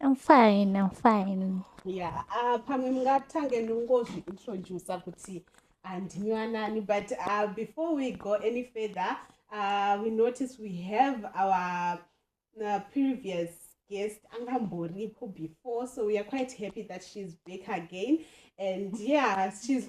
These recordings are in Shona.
I'm fine, I'm fine. Yeah, uh, pamwe mungatange ndongozviintroducer kuti andinywanani ah, but uh, before we go any further uh, we notice we have our uh, previous guest angamboripo before so we are quite happy that she's back again and yeah she's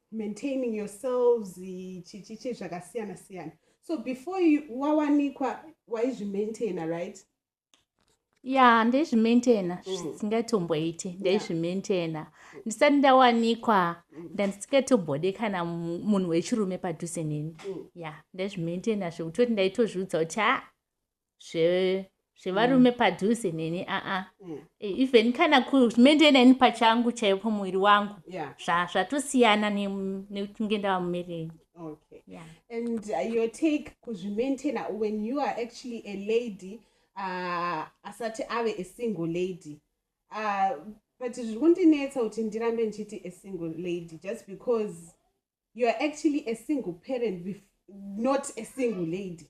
maintaining yourselves chichichi zvakasiyana siyana so before wawanikwa waizvimaintaina right ya yeah, ndaizvimaintaina mm. zvisingatomboiti mm. ndaizvimaintaina yeah. ndisati ndawanikwa mm. ndandisingatobode kana munhu wechirume padhuze neni mm. ya yeah, ndaizvimaintaina zvekutoti ndaitozviudza kuti ha ah, zvevarume mm. padhuze neni aa mm. e, even kana kumende neni pachangu chaiyo pamuviri wangu zvatosiyana nekunge ndava mumereni okay yeah. and uh, your take kuzvimaintaina when you are actually a lady uh, asati ave a single lady uh, but zviri kundinetsa kuti ndirambe ndichiti a single lady just because you are actually a single parent not a single lady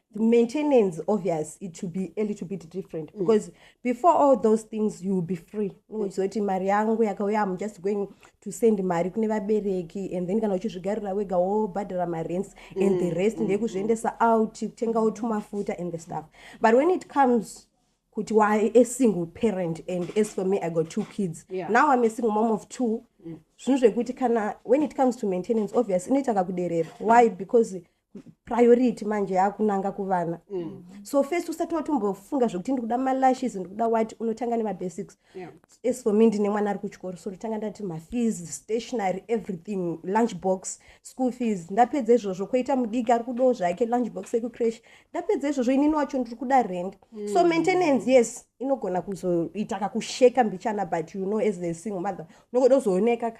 the maintenance obvious it should be a little bit different mm. because mm. before all those things you will be free uchizoti mm. mari yangu yakauya am just going to send mari kune vabereki and then kana uchizvigarira wega wobhadhara marents mm. and the mm, rest mm. ndekuzviendesa out kutengawo tumafuta and the stuff but when it comes kuti why a single parent and as for me i got two kids yeah. now i'm a single mom of two mm. zvinhu mm. zvekuti kana when it comes to maintenance obvious inoita kakuderera why because mm. priority manje yaakunanga kuvana mm. so first usati watombofunga zvekuti ndikuda malashes ndikuda wati unotanga nemabasics yeah. as for me ndine mwana ari kuchikoro so ndotanga ndati mafees stationary everything lunch box school fees ndapedza izvozvo koita mudiki ari kudawo zvake lunch box ekucrash ndapedza izvozvo inini wacho ndiri kuda rend mm. so maintenance yes inogona kuzoita kakusheka mbichana but you know as a single mother unogoda kuzooneka ka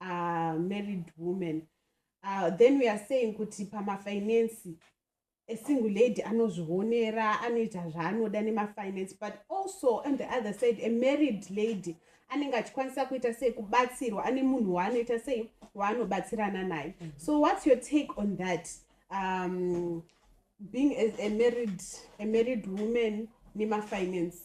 uh, married woman uh, then we are saying kuti pamafinansi esingle lady anozvionera anoita zvaanoda nemafinansi but also on the other side a married lady anenge achikwanisa kuita sei kubatsirwa ane munhu waanoita sei waanobatsirana naye mm -hmm. so what's your take on that um, being a, a married, a married woman nemafinance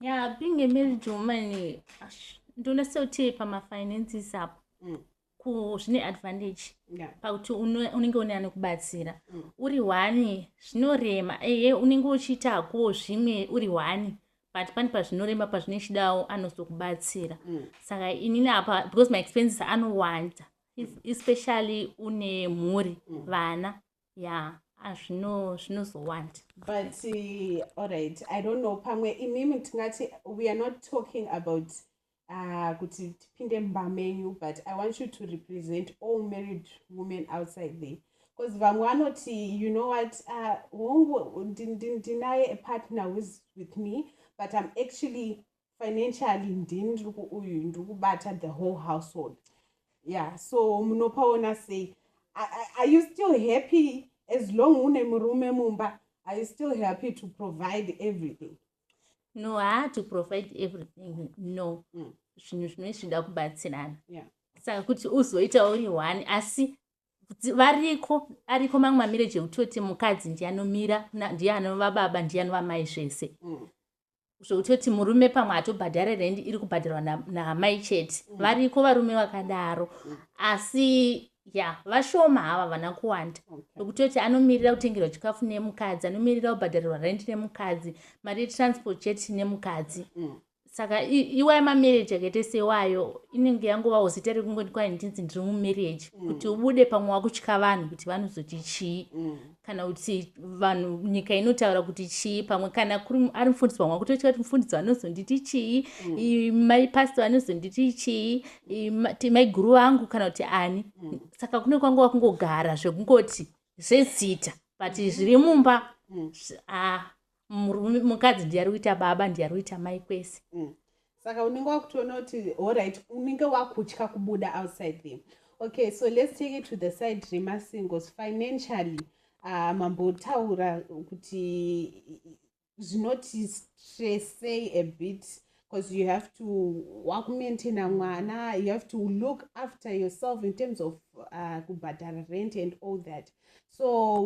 Yeah, being a married woman, eh, ash, ndoona sekuti pamafinances apo Mm. ku- zvine advantage Yeah. pakuti uno- unenge une anokubatsira Mm. uri hwani zvinorema eye unenge uchiitakuwo zvimwe uri hwani but pane pazvinorema pazvinochidawo anozokubatsira Mm. saka inini apa because my expenses anowanda es- especially une mhuri Mm. vana yeah azvino zvinozowanda but uh, alright i don't know pamwe imimi tingati we are not talking about uh, kuti tipinde mumba menyu but i want you to represent all married women outside there because vamwe vanoti you know what uh, hongu ndinaye a partner whois with me but i'm actually financially ndini ndiri kuuyu ndiri kubata the whole household yeah so munopaona sei are you still happy as long une murume mumba are you still happy to provide everything no haa to provide everything no mm. zvinhu zvino zvinoda kubatsirana yeah. saka kuti uzoita uri one asi variko ariko mamwe mamireji ekutoti mukadzi ndiye anomira ndiye anova baba ndiye anova mai zvese mm. zvekutoti murume pamwe hatobhadhare rendi iri kubhadharwa naamai chete mm. variko varume vakadaro mm. asi ya vashoma hava vana kuwanda vekutoti anomirira kutengerwa chikafu nemukadzi anomirira kubhadharirwa rendi nemukadzi mari yetransport chete nemukadzi mm. saka iwayo mamarriage akaite sewayo inenge yangovawo zita rekungoti kwai ndinzi ndiri mumarriage kuti ubude pamwe wakutya vanhu kuti vanozoti chii kana kuti vanhu nyika inotaura kuti chii pamwe kana ari mufundisi wamwa kutoita kuti mufundisi vanozonditi chii mm. mai pastor vanozonditi chii maiguru vangu kana kuti ani mm. saka kune kwanga wakungogara zvekungoti zvezita but mm. zviri mumba mm. ah, Murume- mukadzi ndiye ari kuita baba ndiye ari kuita mai kwese Mm. saka unenge wakutoona kuti alright unenge wakutya kubuda outside there okay so let's take it to the side remasingles financially uh, mambotaura kuti zvinoti stressei a bit because you have to wakumaintaina mwana you have to look after yourself in terms of uh, kubhadhara rent and all that so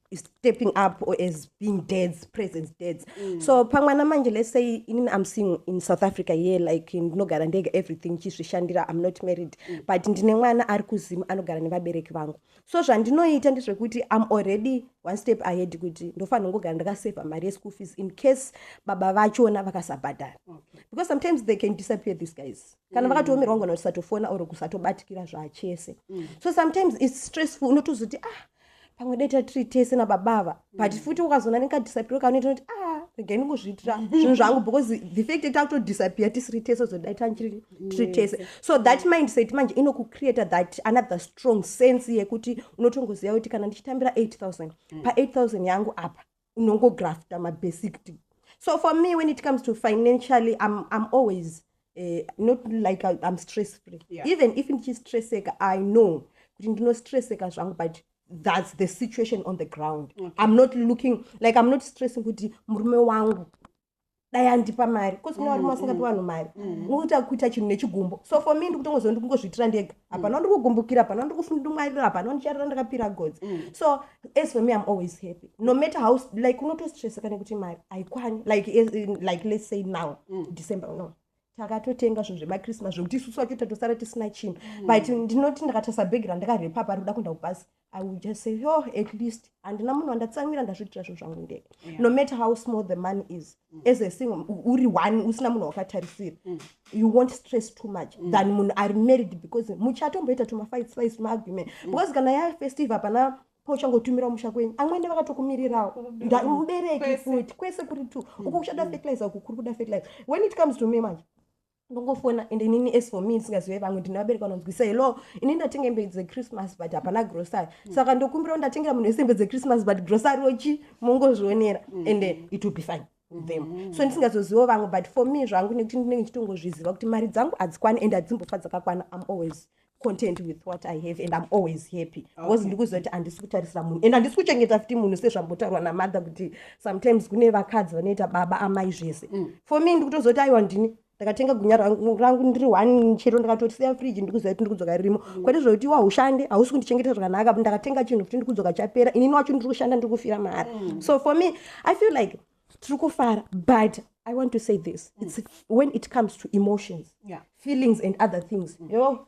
stepping up or as being dads presence dads mm. so pamwana manje let's say inini i'm seeing in south africa here like ndinogara ndega everything chizvishandira i'm not married mm. but ndine mwana ari kuzimu anogara nevabereki vangu so zvandinoita ndezvekuti i'm already one step ahead kuti ndofanira kungogara ndakasavha mari yeschool fees in case baba vachona vakasabhadhara okay. because sometimes they can disappear these guys kana mm. vakatoomerwa ngona kusatofona or kusatobatikira zvachese mm. so sometimes its stressful unotozoti ah pamwe dai tatiri tese nababa ava but mm. futi ukazoona nekadisapiro kanoita kuti a ah, regai ndingozviitira zvinhu zvangu because the fact yekuti akutodisappear tisiri tese zodai tiri tese so that mindset manje inokukreata that another strong sense yekuti unotongoziva kuti kana ndichitambira 8000 mm. pa 8000 yangu apa unongografta mabesicty so for me when it comes to financially i'm, I'm always uh, not like I, i'm stress free yeah. even if ndichistresseka i know kuti ndinostresseka zvangu but that's the situation on the ground okay. i'm not looking like i'm not stressing kuti murume wangu dai andipa mari bcause kune varume vasingapi mm-hmm. vanhu mari mm-hmm. unoita kuita chinhu nechigumbo so for me ndikutongozova ndikungozviitira ndega hapana mm. wandikugumbukira hapana wandikufundumwarira hapana wandicharira ndakapira godzi mm. so as for me im always happy no matter how like unotostresseka nekuti mari haikwani like like let's say now mm. december no takatotenga zvinhu zvemachristmas zvekuti isusu vacho tatosara tisina chinhu mm. but ndinoti ndakatarisa bhegi randakarepa pari kuda kuenda kubhasi i will just say yo oh, at least handina munhu wandatisamira ndazviitira zvinhu zvangu ndega yeah. no matter how small the money is mm. as a sing uri one usina munhu wakatarisira mm. you won't stress too much mm. than munhu ari married because muchatomboita tumafight spice tumaargument mm. because kana yafestive hapana pauchangotumira musha kwenyu amwene vakatokumirirawo mubereki futi kwese kuri two mm, uko kuchada mm. fertilizer uku kuri kuda fertilizer when it comes to me manje ndongofona and inini as for me ndisingazive vamwe ndinovabereka vanonzwisa hello ini ndatenga hembe dzechristmas but hapana grocery mm. saka ndokumbirawo ndatengera munhu wese hembe dzechristmas but grocery ochi mongozvionera and it will be fine them mm. so ndisingazozivo vamwe but for me zvangu nekuti ndinenge ndichitongozviziva kuti mari dzangu hadzikwani and hadzimbofa dzakakwana im always content with what i have and im always happy because okay. ndikuzoti handisi kutarisira munhu and handisi kuchengeta futi munhu sezvambotaurwa namadha kuti sometimes kune vakadzi vanoita baba amai zvese mm. for me ndikutozoti aiwa ndini ndakatenga gunya rangu ndiri one chero ndakatosiya friji ndikuziva kuti ndikudzoka ririmo mm. kwete zvokuti iwa ushande hausi kundichengetera zvakanaka ndakatenga chinhu kuti ndikudzoka chapera inini wacho ndiri kushanda ndiri kufira mahara mm. so for me i feel like tiri kufara but i want to say this mm. it's when it comes to emotions yeah. feelings and other things mm. yo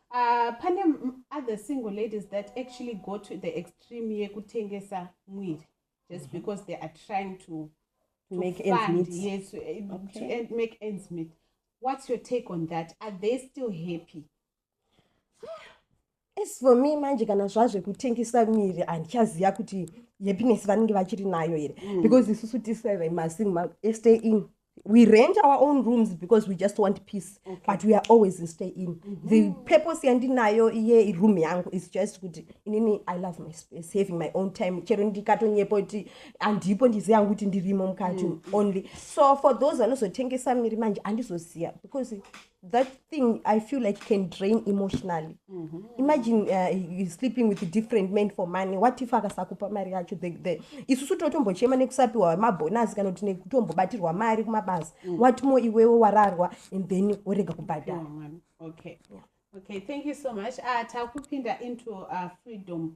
Uh, pane other single ladies that actually go to the extreme yekutengesa mwiri just mhm. because they are trying to, to make fund, ends meet. yes eh, okay. to end, make ends meet what's your take on that are they still happy as for me manje kana zvazvekutengesa miri handichaziva kuti happiness vanenge vachiri nayo here mm. because isusu tisere masim esta in we rent our own rooms because we just want peace okay. but we are always in stay in mm -hmm. the purpose yandinayo iye room yangu is just kuti inini i love my space having my own time chero ndikatonyepo kuti andipo ndizi yangu kuti ndirimo mukati mm. only so for those vanozotengesa miri manje andizoziva because that thing i feel like can drain emotionally mm -hmm. imagine uh, you sleeping with different men for money what if akasakupa mari yacho the, the isusu totombochema nekusapiwa mabhonasi kana kuti nekutombobatirwa mari kumabasa mm. what more iwewo wararwa and then worega kubhadhara oh, okay. Yeah. okay thank you so much uh, takupinda into uh, freedom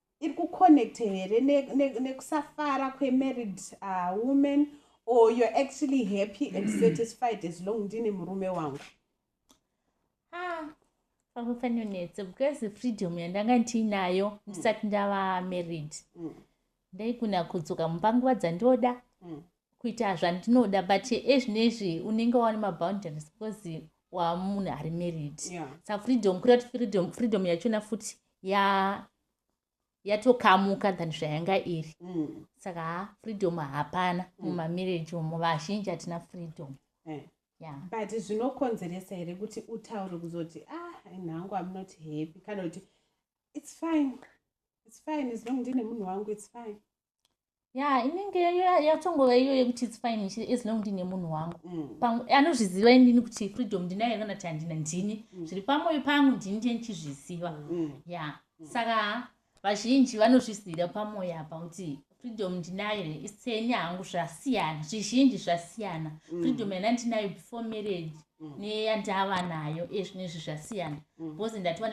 iri kuconnecte here nekusafara ne, ne kwemarried uh, woman or you're actually happy and satisfied as long ndine murume wangu ah, pakufanonetsa because freedom yandanga ndiinayo mm. ndisati ndava married mm. ndaigona kudzoka mumba nguva dzandoda mm. kuita zvandinoda but ezvinezvi unenge waone maboundaries because wamunhu ari married yeah. sa freedom kuda kuti freedom freedom yachona futi ya yatokamuka than zvayanga iri mm. saka ha freedom hapana mm. mumamarriage umo vazhinji hatina freedom eh. yeah. but zvinokonzeresa here kuti utaure kuzoti ah nhangu am not happy kana kuti it's fine it's fine as long ndine munhu wangu it's fine ya inenge yatongova iyo yekuti its fine as long ndine munhu wangu mm. anozviziva inini kuti freedom ndinayo kana kuti handina ndini mm. zviri pamwoyo pangu ndini ndiye ndichizviziva mm. ya saka vazhinji vanozvizivira pamwoyo apa kuti freedom ndinayo here iseni hangu zvasiyana zvizhinji zvasiyana freedom yana ndinayo before marriage mm. neyandava nayo ezvino izvi zvasiyana mm. because ndatova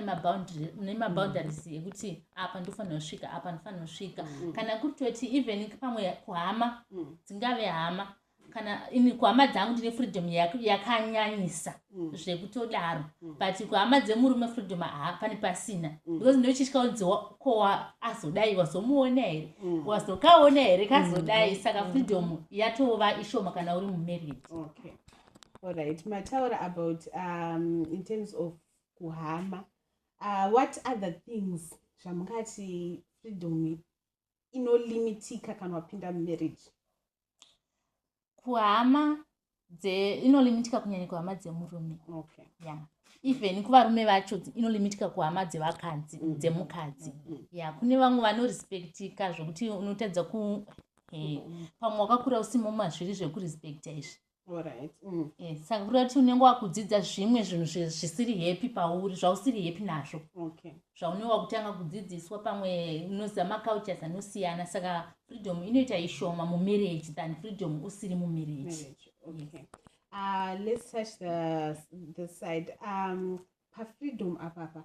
nemaboundaries mm. ekuti apa ndofanira kusvika apa ndofanira kusvika kana kutoti even pamwe kuhama dzingave hama kana ini kuhama dzangu ndine freedom yakanyanyisa zvekutodaro but kuhama dzemurume freedom haa pane pasina because ndochitya kunzi ko azodai wazomuona here wazokaona here kazodai saka freedom yatova ishoma kana uri mumarriage okay. Alright, mataura about um, in terms of kuhama uh, what other things zvamungati freedom inolimitika kana wapinda mumarriage kuhama inolimitika kunyanya kuhama dzemurume okay. yeah. even kuvarume vacho inolimitika kuhama dzevakadzi mm -hmm. dzemukadzi mm -hmm. ya yeah. kune vamwe vanorespektika zvekuti unotadza ku hey. Eh, mm -hmm. pamwe wakakura usimo mazviri zvekurespecta izvi eh, saka kureva kuti unenge wakudzidza zvimwe zvinhu zvisiri happy pauri zvausiri happy nazvo zvaunenge wakutanga kudzidziswa pamwe unoziva macultures anosiyana saka freedom inoita ishoma mumarriage than freedom usiri mumarriage ah, let's touch the, the side um, pafreedom apapa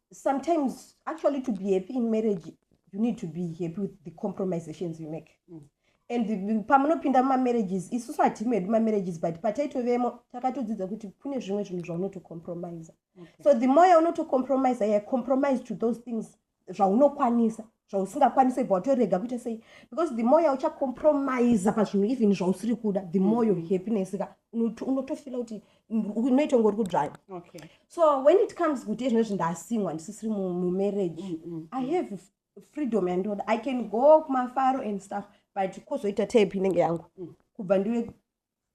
sometimes actually to be happy in marriage you need to be happy with the compromisations you make mm. and pamunopinda mumamarriages isusu hatime hedu mamarriages but pataitovemo takatodzidza kuti kune zvimwe zvinhu zvaunotocompromisa okay. so the more yaunotocompromisa yeah, compromise to those things zvaunokwanisa zvausingakwanise bva watorega kuita sei because the more yauchacompromise pazvinhu even zvausiri kuda the more your happiness ka unotofila kuti unoita kunge uri kudzvaya so when it comes kuti ezvino zvi ndasimwa ndisisiri mumarriage mm, mm, i mm. have freedom yandoda i can go kumafaro and stuff but kozoita tape inenge yangu kubva ndive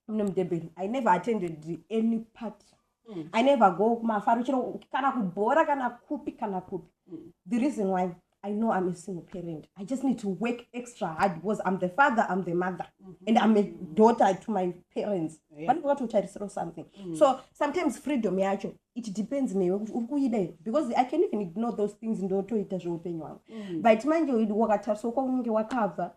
mune mudebeni i never attended any party mm. i never go kumafaro chero kana kubhora kana kupi kana kupi mm. the reason why i know i'm a single parent i just need to work extra hard because i'm the father i'm the mother mm -hmm. and i'm a daughter to my parents vanenge vatotarisirawo something mm. so sometimes freedom yacho it depends newe kuti uri kuida here because i can even ignore those things ndotoita zveupenyu hwangu mm. but manje wakatariswa kwaunenge wakabva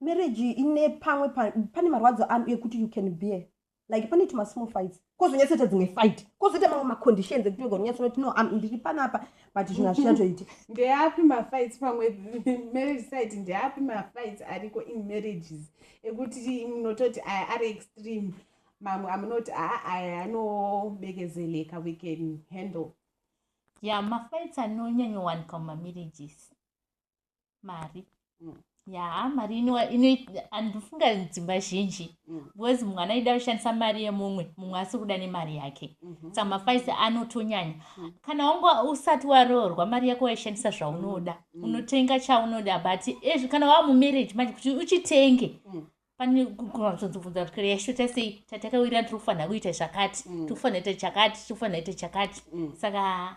marriage ine pamwe pane marwadzo ekuti you can bear like pane tuma small fights kozonyatsoita dzimwe fight kozoita mamwe maconditions ekuti oga unyatsonoti no am ndiri panapa but zvinhu hazvichatoiti ndeapi mafights pamwe marriage site ndeapi mafights ariko in marriages ekuti munototi aya ari extreme mamwe amunoti aa aya anobekezeleka we can handle ya yeah, mafights anonyanyowanika mumamarriages mari mm. ya mari inoandifunga dzimba zhinji mm. because mwana aida kushandisa mari yemumwe mumwe asi kuda nemari yake mm-hmm. saka mafaisi anotonyanya mm. kana wanga usati waroorwa mari yako waishandisa zvaunoda mm. unotenga chaunoda but ezvi kana wava mumarriage manje kuti uchitenge pane kuatozobvunza kuti kare yashota sei tatakawirira tiri kufanira kuita zvakati tiri kufanira ita chakati tiri kufanira ita chakati saka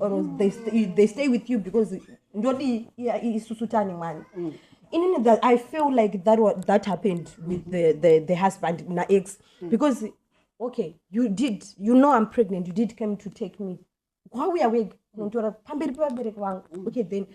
or they, stay, they stay with you because ndodi isusu tani mwani mm. inini that i feel like that, what, that happened with the, the, the husband na ex mm. because okay you did you know i'm pregnant you did come to take me wauya wega kunonditora pamberi pevabereki vangu mm. okay then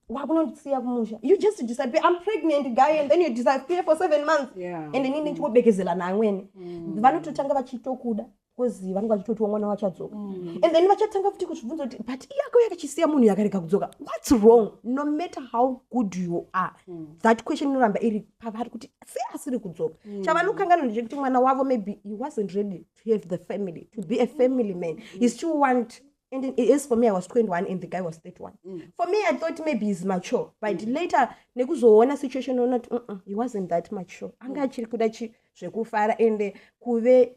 wakunondisiya kumusha you just disappear i'm pregnant guy and then you disappear for seven months yeah. and inini ndichiwobekezela naamweni mm. vanototanga vachitokuda coz vanenge vachitotiwo mwana wachadzoka mm. and then vachatanga futi kuzvibvunza kuti but iyako yakachisiya munhu yakarega kudzoka whats wrong no matter how good you are mm. that question inoramba iri pavari kuti sei asiri kudzoka mm. chavanokanganwa ndechekuti mwana wavo maybe he wasn't ready to have the family to be a family man mm. he still want And it is for me, I was 21 and the guy was 31. Mm. For me, I thought maybe he's mature. But mm. later, nekuzoona situation or not, mm -mm, he wasn't that mature. Anga mm. achiri kuda zvekufara and kuve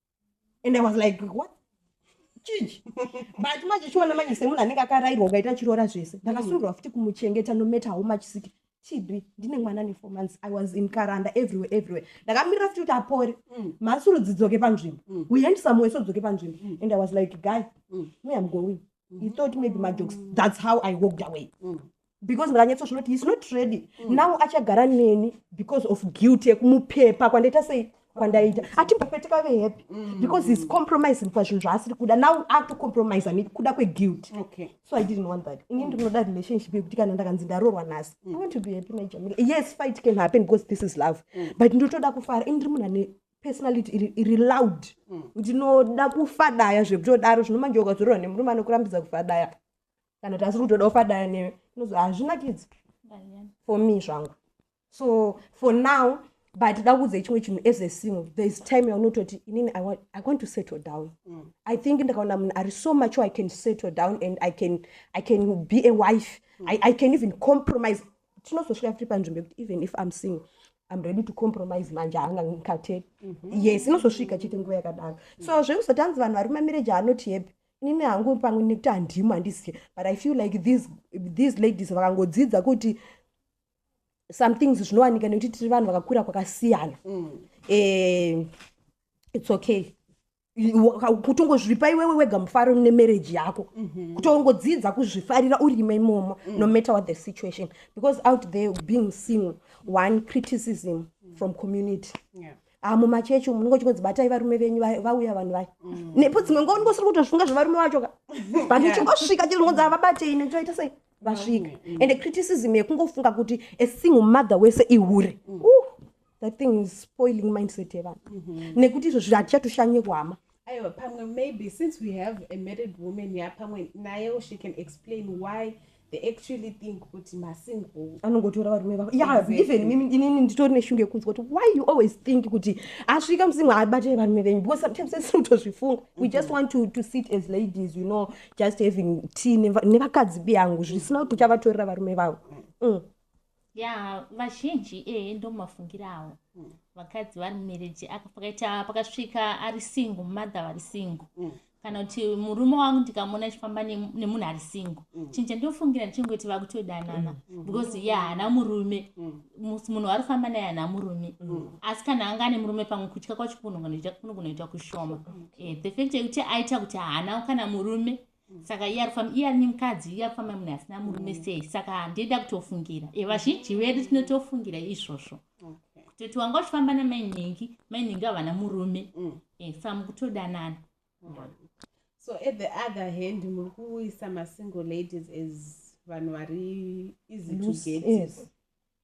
and i was like what chichi but manje chiona manje semunhu anenge akarairwa ukaita chiroora zvese ndakasungirwa futi kumuchengeta nometa how much siki chidwi ndine mwana ne four months i was in karanda everywhere everywhere ndakamirira futi kuti apore mm. mhasuru dzidzoke panzvimbo mm. we hand somewhere sodzoke panzvimbo mm. and i was like guy me am going he thought maybe majokes thats how i walked away mm. because ndakanyatsoshona kuti heis not ready mm. now achagara neni because of guilt yekumupepa kwandaita sei kwandaita atimbapete kave happy mm. because heis compromising pazvinhu zvaasiri kuda now akutocompромisa ne kuda kweguilt so i didn't want that ini ndinoda relationship yekuti kana ndakanzi ndarorwa nhasi i want to be happy najamila yes fight can happen because this is love but ndotoda kufara ini ndiri munhu ane personality iri, iri loud mm. ndinoda kufadaya zvekutodaro zvino manje ukazorora nemurume anokurambidza kufadaya kana kuti asi kutoda kufadaya newe inozo hazvinakidzi for me zvangu so for now but da kuudza chimwe chinhu as a single there is time yaunototi inini I want, i want to settle down mm. i think ndakaona munhu ari so much i can settle down and i can, I can be a wife mm. I, i can even compromise tinozosvika tiri panzvimbo yekuti even if im single im ready to compromise manje haanga ngikateri mm -hmm. yes inozosvika chete nguva yakadaro mm. so zvekusati anzi vanhu vari mumamereji anoti hepi inini hangu pamwe nekuti handimo handizive but i feel like these, these ladies vakangodzidza kuti some things zvinowanika nekuti tiri vanhu vakakura kwakasiyana mm. eh, it's okay kutongozvipa iwewe wega mufaro nemarriage yako mhm. kutongodzidza kuzvifarira urime imomo mm. no matter what the situation because out there being single one criticism from community yeah ah, mumachechi umu ndingo chingonzi batai varume venyu vauya vanhu vaya mm. nepo dzimwe ngo ndingo siri kutozvinga zvevarume vacho ka but uchingosvika chiri ngonzi avabatei nechoita sei vasvika mm, mm. and criticism yekungofunga kuti a single mother wese ihure that thing is spoiling mindset yevanhu mm -hmm. nekuti izvozvo hatichatoshanye kuhama aiwa pamwe maybe since we have a married woman ya pamwe nayewo she can explain why they actually think kuti masingle anongotora varume vavo ya exactly. even mimi inini nditori neshungu yekunzwa kuti why you always think kuti asvika musingle abatire varume venyu because sometimes esi unotozvifunga mm -hmm. we just mhm. want to, to sit as ladies you know just having tea nevakadzi biyangu zvisina kuti uchavatorera varume vavo mm. mm. Yaa vazhinji ee ndomafungiro awo vakadzi vari mumereji aka pakaita pakasvika ari singo mother vari singo mm. kana kuti murume wangu ndikamona achifamba nemunhu ari singo mm. chinhu chandinofungira ndichingoti vakutodanana mm. because ye haana murume munhu wari kufamba naye haana murume asi kana anga ane murume pamwe kutya kwacho kunoita kunoita kushoma eh, the fact yekuti aita kuti haana kana murume saka iye ari kufamba iye ari nemukadzi iye ari kufamba munhu asina murume mm. sei saka handei ndakutofungira e vazhinji vedu tinotofungira izvozvo kutoti wanga uchifamba namainhingi mainhingi havana murume mm. e saka mukutodanana so at the other hand muri kuisa masingle ladies as vanhu vari easy to get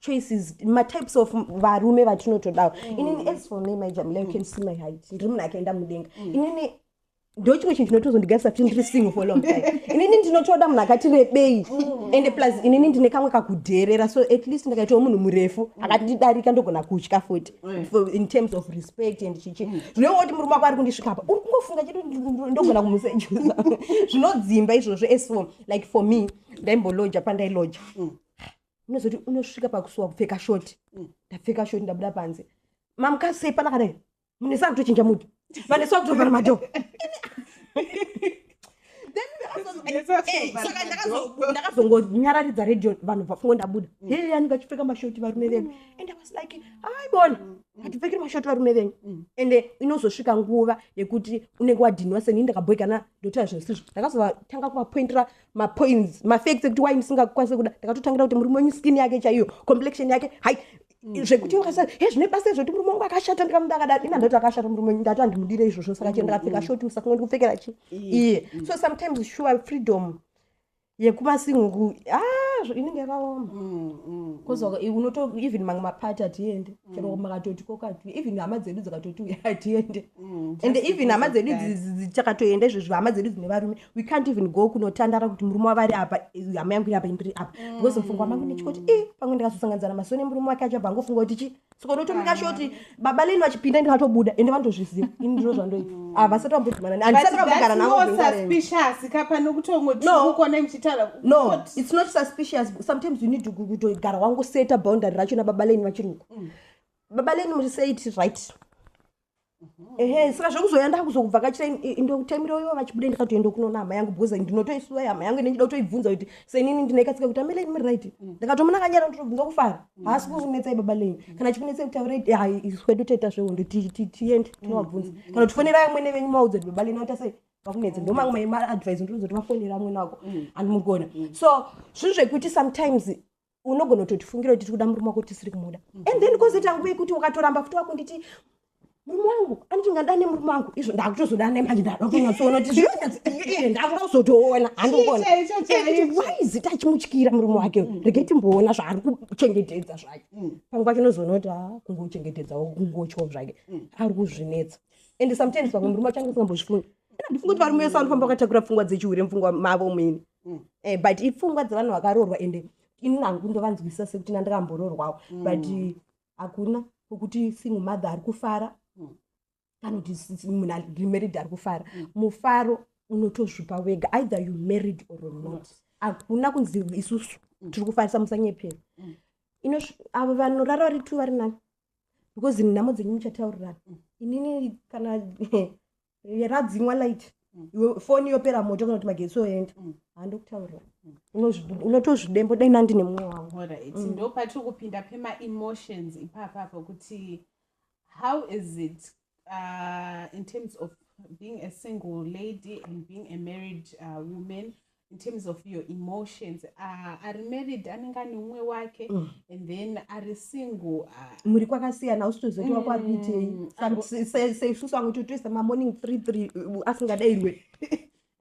choices matypes of varume vatinotodawo mm. inini as for me majamila you can see my height ndiri munhu akaenda mudenga mm. inini ndo chimwe chinhu chinotozondigarisa kuti ndiri single for long time inini ndinotoda munhu akati rebei mm. ende plus inini ndine kamwe kakudheerera so at least ndakaitawo munhu murefu mm. akandidarika ndogona kutya futi mm. in terms of respect and chichi zvinova kuti murume wako ari kundisvikapa uri kungofunga chedu ndogona kumusejuza zvinodzimba izvozvo as for like for me ndaimboloja pandailoja unozoti unosvika pakusuwa kupfeka shoti mm. ndapfeka shoti ndabuda panze mamukadzi sei pana kadai mune saa kutochinja muti vane saa kutovhara madho ndakazongonyararidza radio vanhu vafungo ndabuda mm. hee anenge achipfeka mashoti varume venyu mm. and was like aibona hatipfekiri mm. mashoti varume venyu and inozosvika nguva yekuti unenge wadhinwa seni ndakabhoikana ndotaa zvinhu sizvo ndakazovatanga kuvapointira mapoints mafacts ekuti why musingakwanise kuda ndakatotangira kuti murume wenyu skin yake chaiyo complexion yake hai mm. zvekuti wakasa he zvine basa izvoti murume wangu akashata ndikamuda akadai ina ndoti akashata murume wenyu ndati andimudire izvozvo saka chii ndakapfeka mm. shoti usafunge ndikupfekera chii iye mm. so sometimes sure freedom yekumasingu ah, inenge yakaoma kozvaka unoto even mamwe mapati hatiende chero makatoti kokati even hama dzedu dzakatoti uya hatiende and even hama dzedu dzakatoenda izvozvo hama dzedu dzine varume we can't even go kunotandara kuti murume wavari apa hama yangu iri apa indiri apa mm. because mfungwa mangu ndichikoti i eh, pamwe ndikazosanganidzana masoni emurume wake acho apa angofunga kuti chi saka unotomika shoti baba leni vachipinda ndikatobuda ende vanotozviziva ini ndiro zvandoita havasati ah, vambodhumana handisati vambogara navosuspicious kapa nokutongotiukona muchitaura no it's not suspicious sometimes you need kutogara wangoseta boundary racho nababa leni vachiri uko mm. baba leni muriseit right Mm-hmm. ehe saka zvekuzouya ndakuzokubvakachira indotaimira ivo vachibuda ndikatoenda kunoona hama yangu because ndinotoisuva hama yangu ine ndida kutoibvunza kuti senini ndinekatsika kuti amele muri right mm. ndakatomona kanyara ndotobvunza kufara mm. haasi kukunetsai baba lenyu mm. kana chikunetsai kuti aure hai isu kwedu toita zvehondo tiende tinovabvunza kana kuti fonera amwene venyu maudza kuti baba lenyu aita sei vakunetsa ndo mamwe maadvice ndinozo kuti vafonera amwene wako andimugoona so zvinhu zvekuti sometimes unogona kutotifungira kuti tiri kuda murume wako tisiri kumuda mm -hmm. and then kozoita nguva yekuti ukatoramba futi wakunditi murume wangu anoti ngada nemurume wangu izvo ndakutozoda nemanje ndadokunyatsoona kuti zvinonyatsoiye ndakuda kuzotoona handiona why is it achimutyira murume wake mm. regai timboona zvaari kuchengetedza zvake mm. pamwe pacho unozoona kuti a ah, kungochengetedzawo kungotyawo zvake mm. ari kuzvinetsa and sometimes vamwe murume wacho ange usingambozvifunga ndifunga kuti varume vese vanofamba vakatakura pfungwa dzechihure mupfungwa mavo mwini mm. eh, but ipfungwa dzevanhu vakaroorwa ende ini nangu ndovanzwisisa sekuti nandakamboroorwawo mm. but hakuna kwekuti single mother ari kufara mm. kana kuti munhu ari married ari kufara mm. mufaro unotozvipa wega either you married or not hakuna kunzi isusu mm. tiri kufarisa musanyepera mm. ino avo vanorara vari two vari nani because nhamo dzenyu muchataurirana mm. inini kana Eh, radzimwa light mm. iwe foni yopera moto kana kuti magetsi oenda mm. handokutaurira mm. unotozvidembo dai nandine mumwe wangu ndo patiri kupinda pemaemotions ipapa apo kuti how is it uh, in terms of being a single lady and being a married uh, woman in terms of your emotions uh, ari married anenge ane umwe wake mm. and then ari single uh, muri kwakasiyana usitozoti mm, wakwabitei seisusu amwe totoisa mamorning three three uh, asingadairwe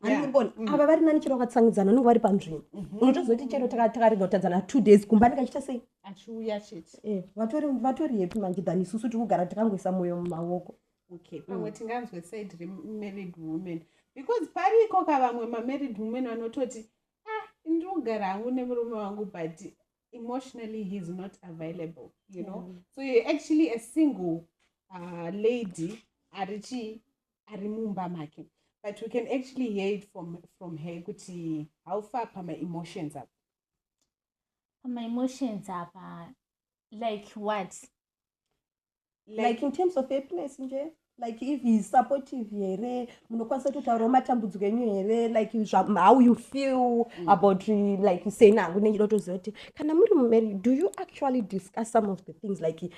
anibona mm. ava vari nani chero vakatsangidzana unenge vari panzvimbo mhm. unotozoti chero takarega kutadzana two days kumba ndikachiita sei achiuya chete eh, vatori vatori hepi manje than isusu tikugara tikangoisa mwoyo mumaoko okay pamwe mm. tinganzwe side remarried woman because pariko ka vamwe mamarried woman vanototi ah ndiri kugara hangu nemurume wangu but emotionally he is not available you know mm. so you're actually a single uh, lady ari chii ari mumba make but we can actually hear it from, from her kuti how far pamaemotions apa pamaemotions apa like what like, like in terms of happiness nje like if heis supportive here munokwanisa kutotaurawo matambudziko enyu here like how you feel mm. about like seni hangu nenge ndotoziva kuti kana muri mumari do you actually discuss some of the things like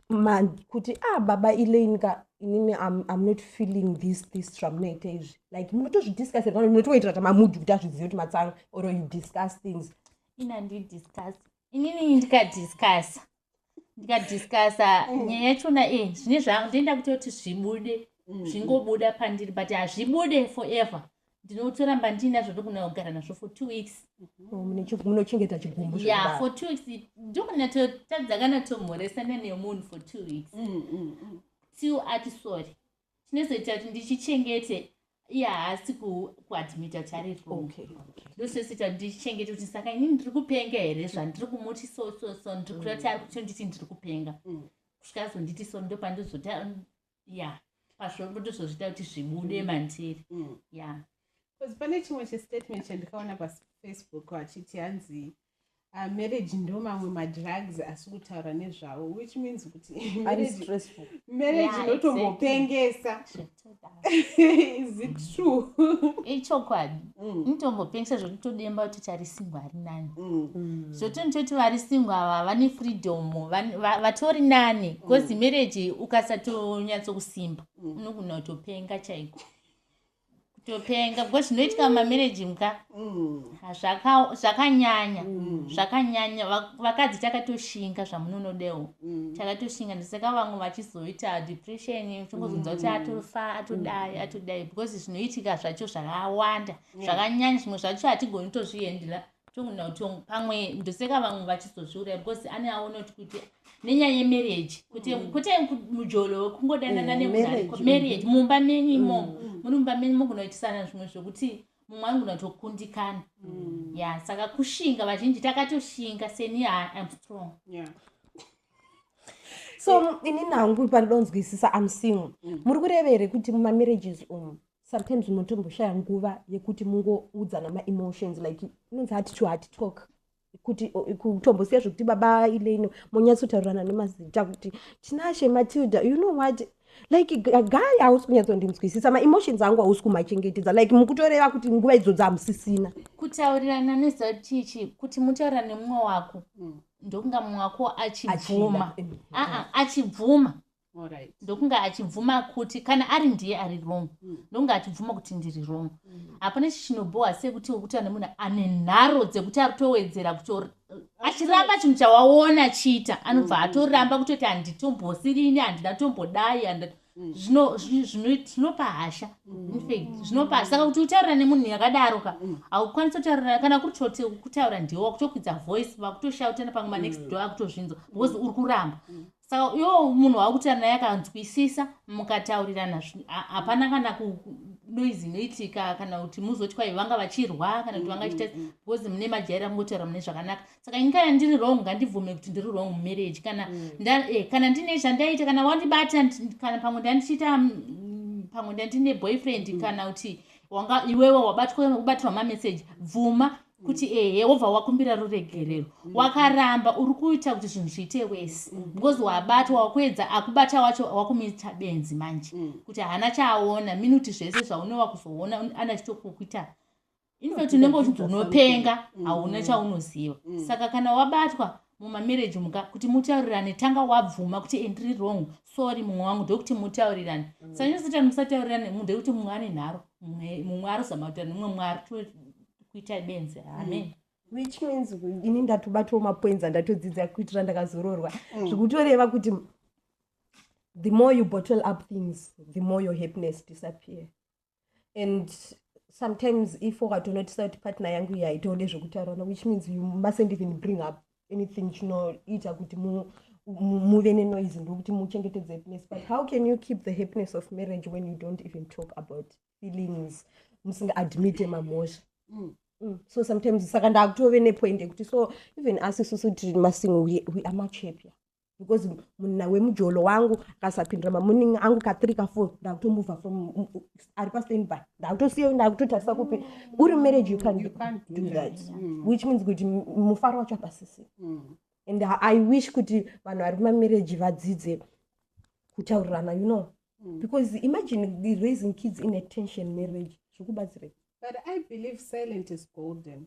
ma kuti ah baba elaine ka inini I'm, i'm not feeling this this zvamunoita izvi like munotozvidiscussira kana munotoitira kuti mamudhi kuti azvizive kuti matsanga or you discuss things ina ndidiscuss inini ndikadiscasa ndikadiscasa mm. nyaya yachona e zvine zvangu ndoenda kuita kuti zvibude mm. zvingobuda pandiri but hazvibude forever ndinotoramba ndiinazvo ndokuna kugara nazvo for two weeks mm-hmm. munochengeta chigumbu ya for two weeks ndokunatotadzakanatomhoresana nemunhu for two weeks mm, mm, till ati sorry chinozoita kuti ndichichengete iye haasi kuadmita kuti ari wrong ndososita kuti ndichichengete kuti saka ini ndiri kupenga here zvandiri kumuti so so so ndiri kuda kuti ari kutonditi ndiri kupenga mm. kusvika azonditi so ndopandozota ya pazvombo ndozozvita kuti zvibude mm. mandiri mm. ya bcause pane chimwe chestatement chandikaona pafacebook achiti hanzi Uh, marriage ndo mamwe madrugs asi kutaura nezvawo which means kuti marriage inotombopengesa is it true ichokwadi mm. inotombopengesa zvokuti todemba kuti tari singo ari nani mm. mm. zvoti nitoti vari singo ava vane freedom vatori nani bcause marriage ukasatonyatsokusimba unogona kutopenga chaiko kutopenga because zvinoitika mumamereji mka mm. zvakanyanya mm. zvakanyanya vakadzi takatoshinga zvamunonodewo mm. takatoshinga ndisaka vamwe vachizoita depression uchingozonza kuti atofa atodai atodai because zvinoitika zvacho zvakawanda zvakanyanya zvimwe zvacho hatigoni tozviendera tongu nautongu pamwe ndoseka vamwe vachizozviuraya because ane aonoti kuti nenyaya yemarriage kuti mm. kuti mujolo wekungodanana mm, nemunariko marriage mm. mumba menyu imomo muri mumba menyu mogunoitisana zvimwe zvekuti mumwe anogona kutokundikana ya saka kushinga vazhinji takatoshinga seni am strong so ini nangu pandonzwisisa am single muri kurevere kuti mumamarriages umu sometimes unotomboshaya nguva yekuti mungoudzana maemotions like inonzi hati to hati talk kuti kutombosiya zvekuti baba ileino monyatsotaurirana nemazita kuti tinashe matilda you know what like guy hausi kunyatsondinzwisisa maemotions angu hausi kumachengetedza like mukutoreva kuti nguva idzodzi hamusisina kutaurirana nezita tichi kuti mutaurira nemumwe wako mm. ndokunga mumwe wako achibvuma achibvuma Alright. ndokunge achibvuma kuti kana ari ndiye ari wrong Mm. ndokunge achibvuma kuti ndiri wrong Mm. hapana chichinobowa sekuti wekuti ane munhu ane nharo dzekuti ari kutowedzera kutor achiramba chinhu chawaona achiita anobva Mm. atoramba kutoti handitombosiri ini handina kutombodai handi- Mm. zvino- zvi- zvino- zvinopa hasha In fact, zvinopa hasha saka kuti utaura nemunhu yakadaro ka Mm. haukwanisi kutaura kana kuri choti kutaura ndiwo wakutokwidza voice vakutoshautana pamwe manext Mm. door akutozvinzwa because uri kuramba Mm. saka iwo munhu wakuta naye akanzwisisa mukataurirana hapana kana kunoizi inoitika kana kuti muzoti kwai vanga vachirwa kana kuti vanga chita mm, mm, mm. because mune majaira kungotaura mune zvakanaka saka ini kana ndiri wrong ngandibvume kuti ndiri wrong mumarriage kana eh, kana ndine zvandaita kana wandibata kana pamwe ndandichiita pamwe ndandine boyfriend kana kuti wanga iwewe wabatwa kubatirwa mameseji bvuma kuti ehe wobva wakumbira ruregerero wakaramba uri kuita kuti zvinhu zviite wese because wabatwa wakuedza akubata wacho wakumuita benzi manje mm. kuti haana chaaona minuti zvese zvaunova kuzoona ana chitokukuita infact unenge uchinzi unopenga mm. hauna chaunoziva mm. saka kana wabatwa mumamarriage umu ka kuti mutaurirane tanga wabvuma kuti ndiri wrong sorry mumwe wangu ndokuti mutaurirane mm. sanyanya satani musataurirane mumwe ndokuti mumwe ane nharo mumwe arozama kutaura mumwe mumwe ari kuita benzi amen mm. which means ini ndatobatawo mapoints andatodzidza kuitira ndakazororwa mm. zvikutoreva kuti the more you bottle up things the more your happiness disappear and sometimes if ukatonotisa kuti partner yangu iyi haitode zvekutaurana which means you mustn't even bring up anything chinoita kuti muve nenoise ndokuti muchengetedze happiness but how can you keep the happiness of marriage when you don't even talk about feelings musinga admite mamhosva mm. Mm. so sometimes saka ndakutove nepoint yekuti so even us isusu tiri masingo we, we are much happier because munna wemujolo wangu akasapindira mamuning angu kathree kafour ndakutomubva from mm, mm, ari pastand by ndakutosiya ndakutotarisa kupi uri marriage you can, you can do, do that, that. Mm. which means kuti mufaro wacho apasisi mm. and i wish kuti vanhu vari kumamarriage vadzidze kutaurirana you know mm. because imagine raising kids in a tension marriage zvikubatsirei but i believe silent is golden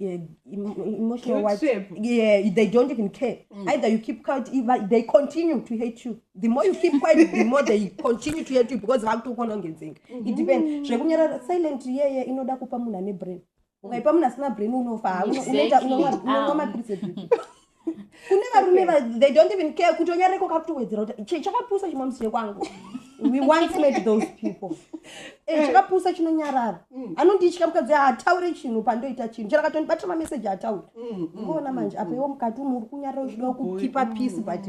eh, emotional what yeah they don't even care mm. either you keep quiet they continue to hate you the more you keep quiet the more they continue to hate you because vakutokonongedzeka it mm-hmm. depends zvekunyarara silent yeye inoda kupa munhu ane brain ukaipa munhu asina brain unofa unoita unomwa mapiritsi kune varume they don't even care kuti onyareko kakutowedzera kuti chakapusa chimwe musire kwangu we once made those people eh, eh. chakapusa chinonyarara mm. anonditya mukadzi haataure chinhu pandoita chinhu chero akatondibatira mameseji haataure mm, mm, uona manje apa iwo mukati umu uri kunyarara uchida kukipa peace but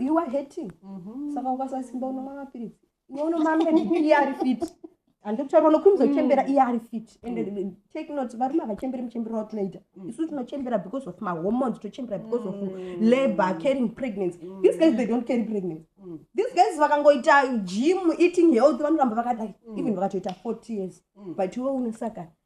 you are hating mm-hmm. saka ukasasimba unomwa mapiritsi unoona mambe iye ari fit handidi kutaura unokwimza uchembera iye ari fit and mm. take note varume havachemberi muchembero watunoita mm. isu tinochembera because of mahormones tochembera because of mm. labor carrying pregnancy these guys they don't carry pregnancy these guys vakangoita gym eating health vanoramba vakadai even vakatoita forty years but iwe unosaka